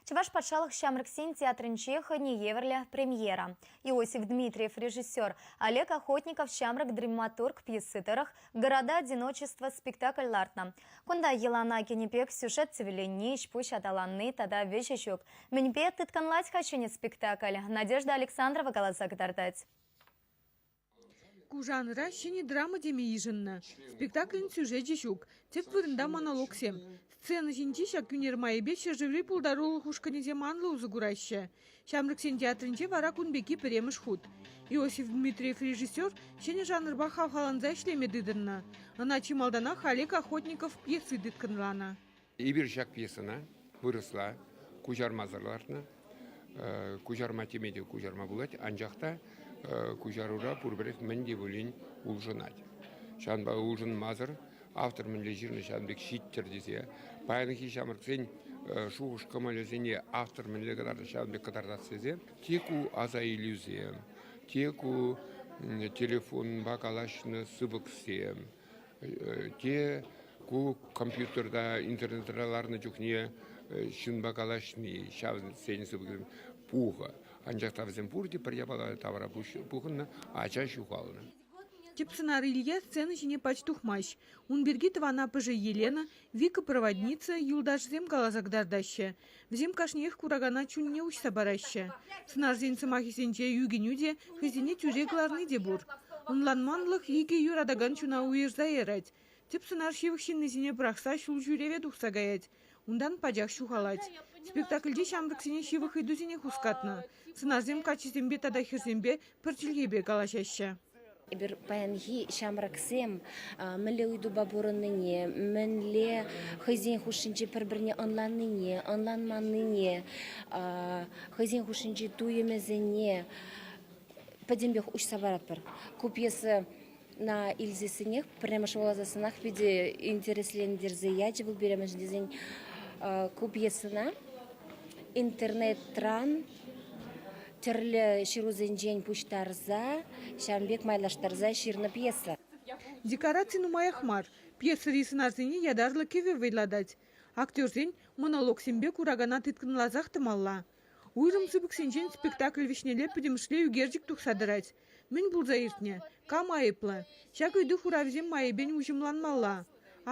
Чӑваш патшалӑх ҫамрӑксен театрӗнче хӑйне евӗрлӗ премьера. Иосиф Дмитриев режиссер, Олег Охотников ҫамрӑк драматург пьеси тӑрӑх Города одиночества спектакль лартнӑ. Кунта йӑлана кӗнӗ пек сюжет сивӗленни, ӗҫ-пуҫ аталанни тата вӗҫӗ ҫук. Мӗнпе тыткӑнлать-ха ҫӗнӗ спектакль? Надежда Александрова каласа кӑтартать. Ку жанра ҫӗнӗ драма теме йышӑннӑ, спектаклӗн сюжечӗ ҫук, тӗп вырӑнта монологсем. Сцена ҫинчи ҫак ӳнер майӗпе ҫӗршыври пултарулӑх ушкӑнӗсем анлӑ усӑ кураҫҫӗ. Ҫамрӑксен театрӗнче вара кун пекки пӗрремӗш хут. Иосиф Дмитриев режиссер ҫӗнӗ жанрпа хавхаланса ӗҫлеме тытӑннӑ. Ӑна чи малтанах Олег Охотников пьеси тыткӑнланӑ. Эпир ҫак пьесӑна вырӑсла куҫармасӑр лартнӑ. Куҫарма теме те куҫарма пулать, анчах та куҫарура пурпӗрех мӗн те пулин улшӑнать. Ҫавӑнпа улшӑнмасӑр автор мӗнле ҫырнӑ ҫавӑн пек ҫиттӗр тесе паянхи ҫамрӑксен шухӑш-кӑмӑлӗсене автор мӗнле кӑтартать ҫавӑн пек кӑтартас тесе те ку асаилӳсем, те ку телефонпа калаҫнӑ сыпӑксем, Те ку компьютерта, интернетра ларнӑ чухне ҫынпа калаҫни, ҫавсен сыпӑкӗсем пухӑ. Анчах та вӗсем пурте пӗр япала тавра пухӑннӑ, ача ҫухалнӑ. Тӗп сӑнар Илья сцена ҫине пач тухмасть. Ун пирки тӑван аппӑшӗ Елена, викопроводница, юлташӗсем каласа кӑтартаҫҫӗ. Вӗсем кашниех куракана чунне уҫса параҫҫӗ. Сӑнарсен сӑмахӗсенче ӳкӗнӳ те, хӑйсене тӳре кӑларни те пур. Ӑнланманлӑх икӗ юратакан чуна уйӑрса ярать. Тӗп сӑнар ҫывӑх ҫыннисене пӑрахса ҫул ҫӳреве тухса каять. Унтан пачах ҫухалать. Спектакльте ҫамрӑксене ҫывӑх ыйтусене хускатнӑ. Сӑнарсем каччисемпе тата хӗрсемпе пӗр чӗлхепе калаҫаҫҫӗ. Эпир паянхи ҫамрӑксем мӗнле ыйтупа пурӑннине, мӗнле хӑйсен хушшинче пӗр-пӗрне ӑнланнине, ӑнланманнине, хӑйсен хушшинчи туйӑмӗсене пӗтӗмпех уҫса паратпӑр. Ку пьеса На илсессӗнех пӗрремӗш вуласассӑнах питӗ интереслентерсе ячӗ вӑл пирӗншӗн тесен ку пьесӑна интернетран тӗрлӗ ҫырусенчен пуҫтарса ҫавӑн пек майлаштарса ҫырнӑ пьеса. Декораци нумаях мар. Пьесӑри сӑнарсене ятарлӑ кӗвӗ вӑйлатать. Актерсен монологсемпе куракана тыткӑнласах тӑмалла. Уйрӑм сыпӑк ҫинчен спектакль вӗҫнелле пӗтӗмӗшле ӳкерчӗк тухса тӑрать. Мӗн пулса иртнӗ, кам айӑплӑ, ҫак ыйту хуравӗсем майӗпен уҫӑмланмалла.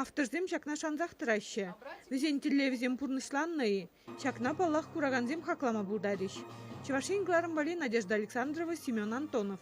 Авторсем ҫакна шансах тӑраҫҫӗ. Вӗсен тӗллевӗсем пурнӑҫланнӑ-и, ҫакна, паллах, куракансем хаклама пултарӗҫ. Чӑваш Ен кӑларӑмпали Надежда Александрова, Семен Антонов.